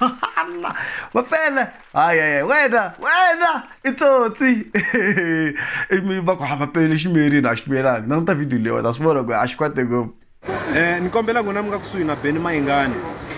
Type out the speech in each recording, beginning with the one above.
Allah mafele hayi hayi wena wena i tsotsi i mi va ku hava pele xi miyerini a xi miyelangi na ku ta video leyi wena swi vona ku a xi kwate ngopfu Eh, ni kombela n'wina mi nga kusuhi na beni mayingani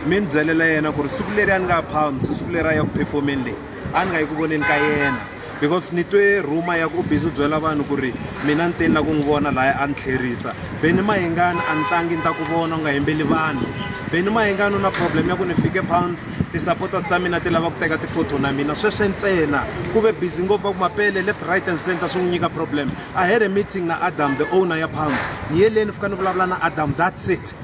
mi ni byelela yena ku ri siku leri a ni nga palms siku leri a ya ku performeni leyi a ni nga yi ku voneni ka yena because ni twe rhuma ya ku u busy u byela vanhu ku ri mina ni teni la ku n'wi vona laya a ni tlherisa beni mahingani a ni tangi ni ta ku vona u nga hembeli vanhu beni mahingani u na problem ya ku ni fike pounds ti-supporters ta mina ti lava ku teka ti-photo na mina sweswe ntsena ku ve busy ngopfu va ku mapele left right and center swi n'wi nyika problem i had a meeting na adam the owner ya pounds ni ye le ni fika ni vulavula na adam that's it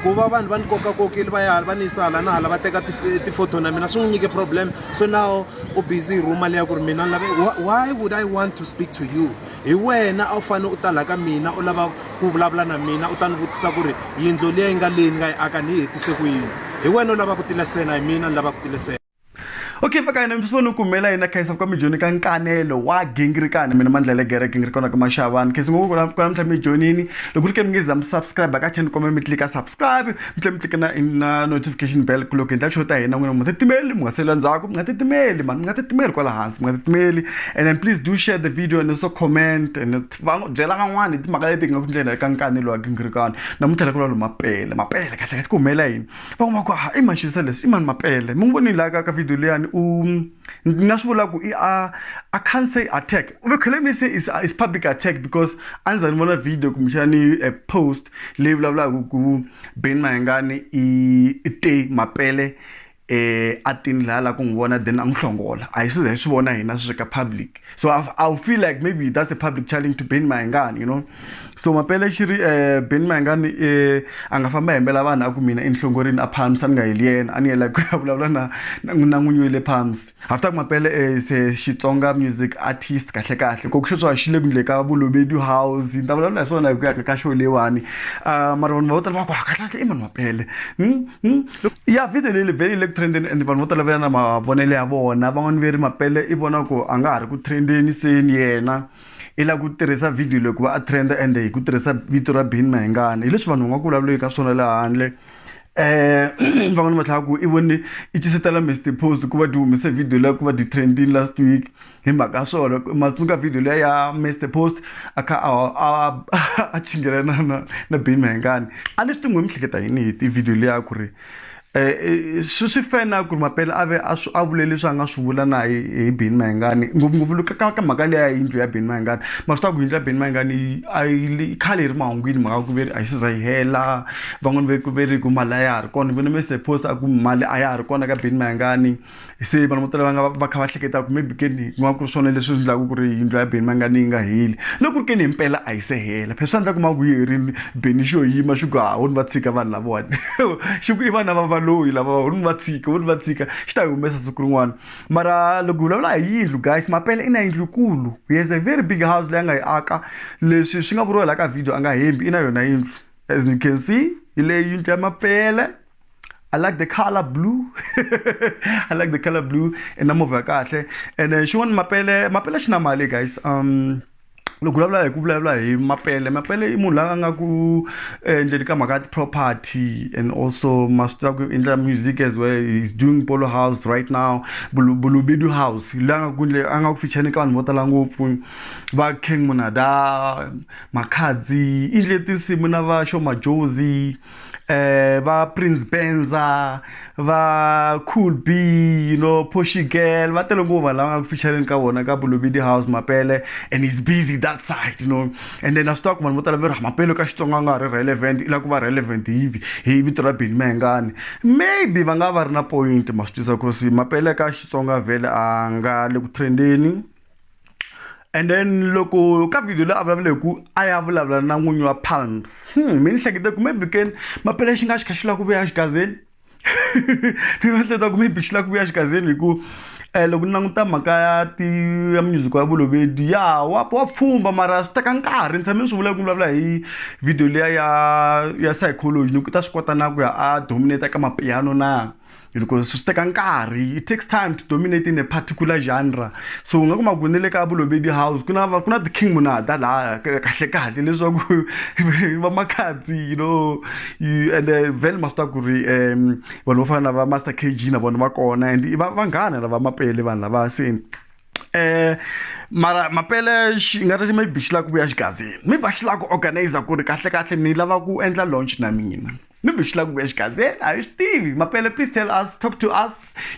ku va vanhu va ni kokakokile va ya hala va ni yisa hala na hala va teka ti-photo na mina swi n'wi nyike problem so now u busy hi rhuma leya ku ri mina ni lave why would i want to speak to you hi wena a wu fanele u ta laha ka mina u lava ku vulavula na mina u ta ni vutisa ku ri yindlo liya yi nga leyi ni nga yi aka ni yi hetise ku yini hi wena u lava ku tilesena hi mina ni lava ku tilesena okay mfaka yena mfiswa ni kumela yena khayisa kwa mijoni ka nkanelo wa gingirikani mina mandlele gere gingirikona ka mashavani khesi ngoku kuna kuna mtlha mijonini loko ri ke mi nge za mi subscribe ka channel komela mi tlika subscribe mi tlhe mi tlika na na notification bell ku loko hi ndla xo ta hina n'wina mu nga titimeli mu nga sela ndzhaku mu nga titimeli mani mu nga titimeli kwala hansi mu nga titimeli and then please do share the video and also comment and va byela van'wana hi timhaka leti hi nga ku ndlela ka nkanelo wa gingirikani namuntlha la ku lwa lo mapele mapele kahle kahle ku humela yini van'wana va ku ha i maxisa leswi i mani mapele mi n'wi voni laha ka ka video liyani u ni nga swi vula ku i a a can't say attack we can let me say is, is public attack because a ni za ni vona video kumbexani a post leyi vulavulaka ku ben mahengani i i te mapele eh a tini laha la ku n'wi vona then a n'wi hlongola a hi siza hi swi vona hina sweswi ka public so I'll, I'll feel like maybe that's a public challenge to ben maingani you know so mapele xi ri um ben maingani um a nga famba hembela vanhu a ku mina enhlongorini a palms a ni nga heli yena a ni yela ku ya vulavula na na n'winyi wa le palms after ku mapele um se xitsonga music artist kahle kahle koku xo tswa xi le kundle ka vulobedi house ni ta vulavula hi swona hi ku ya ka show leyiwani um mara vanhu va vo tala va ku hakatlatle i munhu mapele hmm, hmm. ya video leyi vhele yi le ku trendeni and vanhu vo tala va ya na mavonelo ya vona van'wani ve ri mapele i vona ku a nga ha ri ku trendeni seni yena i lava ku tirhisa video leyi ku va a trenda ende hi ku tirhisa vito ra bini mahingana hi leswi vanhu va nga ku vulavuleki ka swona le handle um van'wani va tlhela ku i vone i cisetela mr post ku va ti humese video leyi ku va ti trendini last week hi mhaka ya swona ma tsundzuka video leyi ya mr post a kha a a chingelana na na bima hengani a ni swi tingo mi hleketa yini hi tivhidiyo leya ku ri um swi swi fana ku ri mapele a ve a swi a vule leswi a nga swi vula na hi hi bini mahengani ngopfungopfu loko ka ka mhaka leya yindlu ya bini mahengani ma swi tiva ku yindlu ya bini mahengani yi a yi khale yi ri mahungwini mhaka ku ve ri a yi siza yi hela van'wani ve ku ve ri ku mali a ya ha ri kona vona mr post a ku mali a ya ha ri kona ka bini mahengani se vanhu vo tala va nga va kha va hleketa ku maybe keni ku nga ku ri swona leswi endlaka ku ri yindlu ya beni mangani yi nga heli loko ku ri keni himpela a yi se hela phela swi endla ku ma ku yi herile beni xo yima xi ku hahoni va tshika vanhu lavawani xi ku i vana va valoyi lava honi va tshika honi va tshika xi ta yi humesa siku rin'wana mara loko hi vulavula hi yindlu guys mapela i na yindlu kulu he has a very big house leyi a nga yi aka leswi swi nga vuriwa laha ka video a nga hembi i na yona yindlu as you can see hi leyi yindlu ya mapele I like the color blue. I like the color blue and I'm over kahle. And then she want mapele, mapele xi na mali guys. Um loko vulavula hi ku vulavula hi mapele mapele i munhu la a nga ku endleni ka mhaka property and also maswi ku endla music as well he's doing polo house right now bulubedu house la nga ku a nga ku fichane ka vanhu vo tala ngopfu va king munada makhadzi i ndle tinsimu na va shomajozi eh va Prince Benza va Cool B you know Poshy Girl va tele ngopfu vanhu lava nga ku featuring ka vona ka Bulubidi House Mapele and he's busy that side you know and then a swi tiva ku vanhu vo tala va ri "Ah, Mapele ka Xitsonga a nga ha ri relevant i lava ku va relevant hi vi- hi vito ra Benny Mayengani maybe va nga va ri na point ma swi tiva ku si Mapele ka Xitsonga vhele a nga le ku trendeni and then loko ka video leyi a vulavula hi ku a ya vulavula na n'winyi wa palms hmm, mi ni hlekete ku maybe ken mapele xi nga xi kha xi lava ku vuya xigazeni ni nga hleketa ku maybe xi lava ku vuya xigazeni hi ku um eh, loko ni languta mhaka ya ti ya music ya vulovedi ya wa wa pfumba mara swi teka nkarhi ni tshame ni swi vula ku vulavula hi video leya ya ya psychology ni ku ta swi kota na ku ya a dominate ka mapiano na hiloko swi teka nkarhi it takes time to dominate in a particular genre so u nga kuma ku ni le ka bulo baby house ku na ku na ti-king munada laha kahle kahle leswaku va makhadzi you know and eh, vele ma swi tiva ku ri um vanhu vo fana na va master k g na vona va kona and va vanghana lava mapele vanhu lava se eh mara mapele xi nga ri maybe xi lava ku vuya xigazini maybe a xi lava ku organizer ku ri kahlekahle ni lava ku endla launch na mina ni mi xi lava ku exigazeni a hi swi tivi mapele please tell us talk to us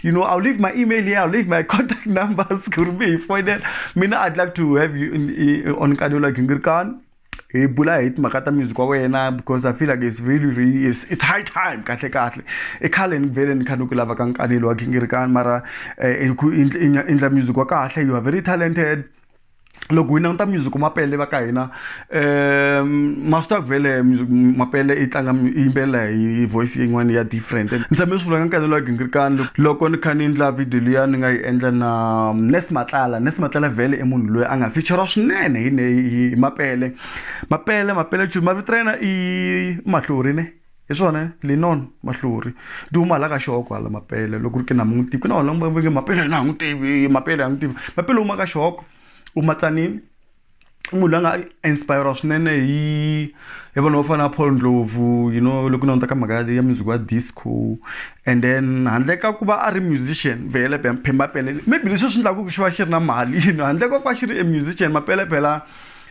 you know i'll leave my email here i'll leave my contact numbers ku ri mi hi foyinela mina i'd like to have you in, in, on nkarhi like ngirikani hi bula hi timhaka ta music wa wena because i feel like it's really really it's, it's high time kahle kahle i khale ni vele ni kha ni ku lava ka nkanelo wa gingirikani mara um i ndla music wa kahle you are very talented loko hi languta music mapele va ka hina um master vele music mapele i tlanga i yimbelela hi voice yin'wana ya different ni tshame swi vula ka nkanelo wa gingirikani loko ni kha ni endla video liya ni nga yi endla na um, nes matlala nes matlala vele i munhu loyi a nga feature swinene hi mapele mapele mapele chuli mavito ra yena i mahlori ne hi swona linon mahluri ti huma hala ka xihoko hala mapele loko ri ke na mun'wi tivi ku na vanhu lava veke mapele a n'wi tivi mapele a n'wi tivi mapele huma ka xihoko u matsanini i munhu la nga inspire swinene hi hi vanhu vo fana na paul ndlovu you know loko na ta ka mhaka ya music wa disco and then handle ka ku va a ri musician vhele phemapele maybe leswi swi endlaku ku xi va xi ri na mali handle ka ku va xi ri a musician mapele phela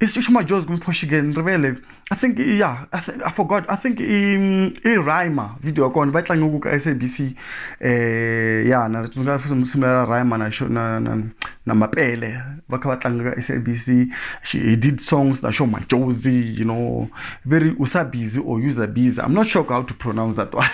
Is xixo majozi kumphoshigen ndrivele i think yeah I, th I forgot i think i i rhyma video ya kona va tlange ku ka sabc eh ya na tsundzuka futhi msimu ya rhyma na xo na na na mapele va kha va tlanga ka sabc she he did songs na xo majozi you know very usa busy or user busy i'm not sure how to pronounce that one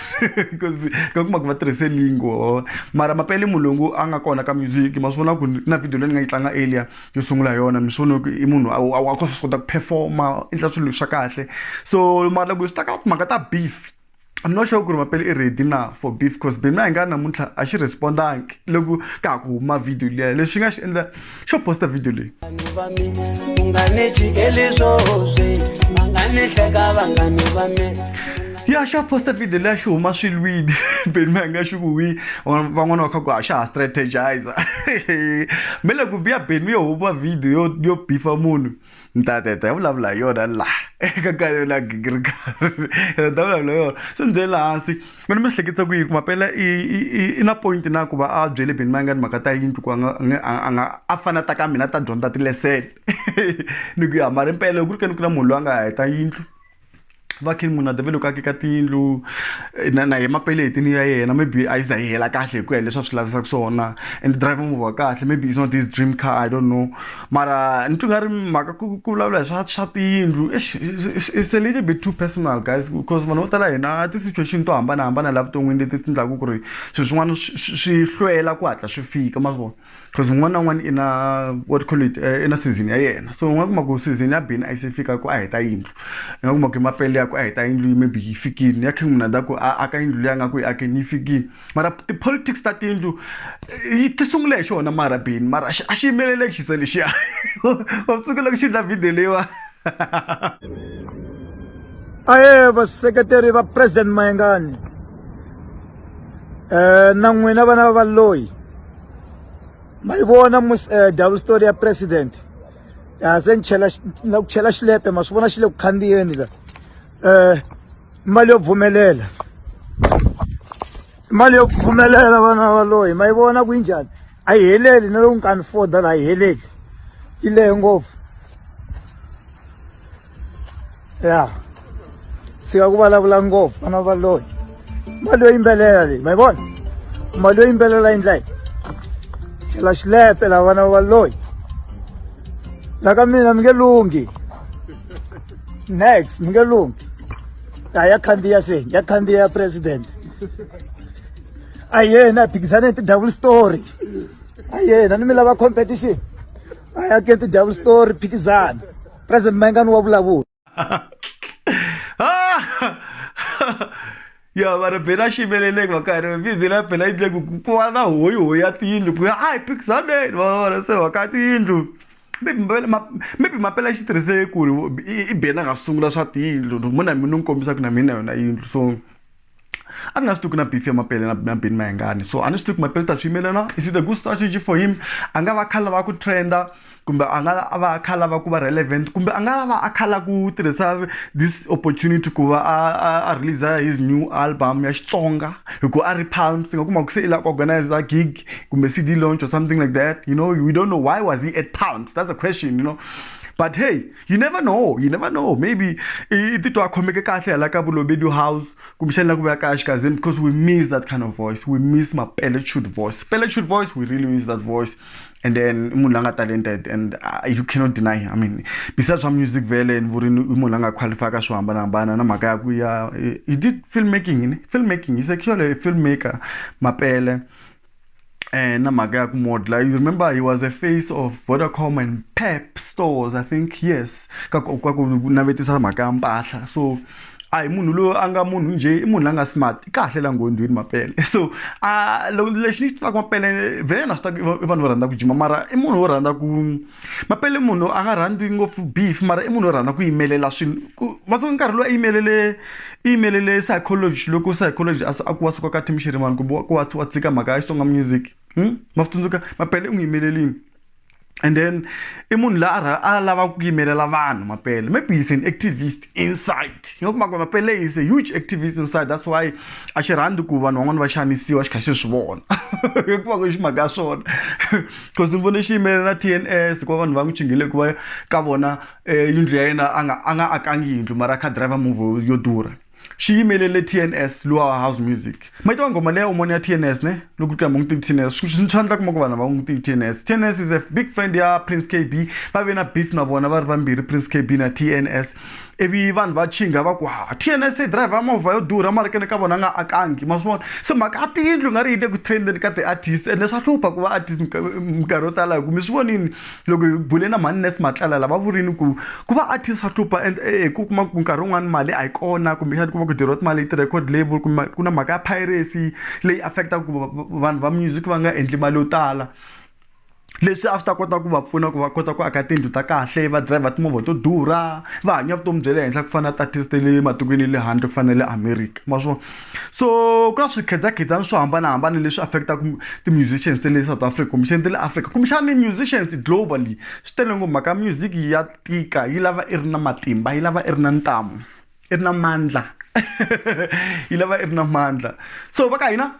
because ka kuma ku va tirhise lingo mara mapele mulungu a nga kona ka music ma swi vona ku na video leyi ni nga yi tlanga earlier yo sungula hi yona mi swi vona ku i munhu a a a swi kota ku perform-a u endla swilo swa kahle so mara loko swi ta ka timhaka ta beef I'm not sure ku ri mampela i ready na for beef coz beef na hi nga namuntlha a xi respond-angi loko ka ha ku huma video liya lexi nga xi endla xo post-a video leyi vanhu va mi ku nga ni chikeli swo swi va nga ni hleka vanghani va mi ya xa posta video leya xi huma swi lwini beni ma nga xi vuyi van'wana va kha ku ha xa ha strategizer me le ku biya beni yo huma video yo yo bifa munhu ni ta teta ya vulavula hi yona la eka ka yona gigirika ni ta vulavula yona swi ni byele hansi mi ni mi hleketisa ku yi kuma pela i i na point na ku va a byele beni ma nga ni mhaka ta yindlu ku a nga a nga a fana ta ka mina ta dyondza tilesele ni ku ya mara impela loko ku ri ke ni ku na munhu loyi a nga heta yindlu va king munhu a devele ku akeka tiyindlu na na hi mapeleti ni ya yena maybe a yi za yi hela kahle hi ku ya leswi a swi lavisaka swona and driver movha kahle maybe is not this dream car i don't know mara ni twi nga ri mhaka ku ku vulavula hi swa swa tiyindlu it's a little bit too personal guys because vanhu vo tala hina ti-situation to hambanahambana laha vuton'wini leti ti endlaku ku ri swilo swin'wana swi hlwela ku hatla swi fika ma swi vona. because un'wana na un'wana i na what call it eh, i na season ya yena so u nga kuma ku season ya bini a yi se fika ku a heta yindlu i nga kuma ku mapele ya ku a heta yindlu yi maybe yi fikile ya king munada ku a aka yindlu leyi a nga ku yi akeni yi fikile mara ti-politics ta tiyindlu eh, yi ti sungule hi xona mara bini mara a xi yimelele xisa lexiya wa tsukela ku xi dla video leyiwa aye vaseketeri va president mayengani eh na n'wina vana va loyi ma yi vona eh, double story ya president ya se ni chela na ku chela xilepe ma swi vona xi le ku khandziyeni la eh mali yo pfumelela mali yo pfumelela vana va loyi ma yi vona ku yi njhani a yi heleli na loko nkani foda la yi heleli yi lehe ngopfu ya tshika ku vulavula ngopfu vana va loyi mali yo yimbelela leyi ma yi vona mali yo yimbelela yi ndla yi chela xilepe la vana va loyi la ka mina mi nge lunghi next mi nge lunghi a ya khandziya se ya khandziya ya president a yena a phikisane ti-double story a yena ni mi lava competition a ya ke ti-double story phikizana president mangani wa vulavula ya vanhu bela ximeleleki va karhi bizi la bela yi dleku ku va na hoyi hoyi ya tiyindlu ku ya a hi phikizaneni va vona se waka tiyindlu maybe mapela xi tirhise ku ri i bena nga sungula swa tiyindlu muna mi ni n'wi kombisa ku na mina yona yindlu so a ni nga swi tivi ku na beef ya mapele na na beni mayengani so a ni swi tivi ku mapele ta swi yimelana is it a good strategy for him a nga va kha lava ku trenda kumbe a nga va a kha lava ku va relevant kumbe a nga va a kha la ku tirhisa this opportunity ku va a a a release his new album ya Xitsonga hi ku a ri palms nga kuma ku se i la ku organize a gig kumbe CD launch or something like that you know we don't know why was he at palms that's a question you know but hey you never know you never know maybe i titwa a khomeke kahle hala ka bulobedu house kumbexani la ku vuya kaya xikazini because we miss that kind of voice we miss mapeletshud voice peletshud voice we really miss that voice and then i munhu la nga talented and uh, you cannot deny i mean besides swa music vele ni vurini i munhu la nga qualify ka swo hambanahambana na mhaka ya ku ya he did filmmaking ni filmmaking he's actually a filmmaker mapele and mhaka ya ku modla you remember he was a face of vodacom and pep stores i think yes ka ku navetisa mhaka ya mpahla so a hi munhu loyi a nga munhu njhe i munhu la nga smart i kahle la nghondzweni mapele so a lexi ni xi tivaka mapele vhele na swi tiva i vanhu vo rhandza ku jima mara i munhu wo rhandza ku mapele munhu a nga rhandzi ngopfu beef mara i munhu wo rhandza ku yimelela swilo ku matsongo nkarhi lowu a yimelele i yimelele psychology loko psychology a a ku wa suka ka team xirimani kumbe wa ku wa wa tshika mhaka ya Xitsonga music ma swi tsundzuka mapele u n'wi yimelelini and then i munhu la a a lavaka ku yimelela vanhu mapele maybe he's an activist inside yi nga kuma ku mapele is a huge activist inside that's why a xi rhandzi ku vanhu van'wana va xanisiwa xi kha xi swi vona hikuva ku xi mhaka ya swona because ni vone xi yimele na t n s hikuva vanhu va n'wi chinghile hikuva ka vona eh, yindlu ya yena a nga a nga akangi yindlu mara a kha driver move yo durha xi yimelele t n s luwa house music ma yi tiva nghoma leya umoni ya tns ne loko ti hamba n'wi tivi tns swi swa endla kuma ku vanhu va n'wi tivi tns tns is a big friend ya prince k b va ve na beef na vona va ri vambirhi prince k b na tns ivi vanhu va chinga va ku ha tns yi drive ya movha yo durha mara kene ka vona nga akangi ma swi vona se mhaka ya tiyindlu nga ri yi le ku trendeni ka ti-artist ende swa hlupha ku va artist minkarhi yo tala hi ku mi swi vonini loko hi bule na mhani nes matlala lava vurini ku ku va artist swa hlupha and eh, eh, ku kuma ku nkarhi wun'wani mali a yi kona kumbexani kuma ku diriwa timali hi ti-record label kumbe ku na mhaka ya piracy leyi affectaka ku vanhu va music va nga endli mali yo tala leswi a swi ta kota ku va pfuna ku va kota ku aka tiyindlu ta kahle va driver timovha to durha va hanya vutomi bya le henhla ku fana na tatist le matikweni ya le handle ku fana na le america ma swona so ku na swikhedzakhedzana swo hambanahambana leswi affect-aka ti-musicians ta le south africa kumbexani ta le africa kumbexani musicians globally swi tele ngo mhaka music ya tika yi lava i ri na matimba yi lava i ri na ntamu i ri na mandla yi lava i ri na mandla so va ka hina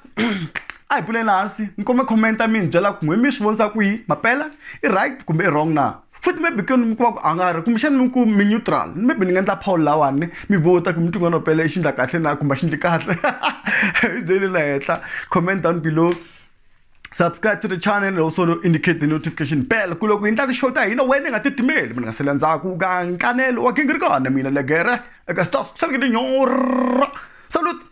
a hi pfuleni hansi ni kome comment-a mi ni byela ku n'we mi swi vonisa kwihi mampela i right kumbe i wrong na futhi maybe ku ni kuma ku a nga ri kumbexana mi ku mi neutral maybe ni nga endla poll lawani mi vota ku mi tin'wana pele xi ndla kahle na kumbe xi ndli kahle hi byeli la henhla comment down below subscribe to the channel and also indicate the notification bell ku loko hi ndla ti-show ta hina wena nga titimeli mina nga sele ndzhaku ka nkanelo wa gingirikana mina legere eka stas ku saleke tinyora salut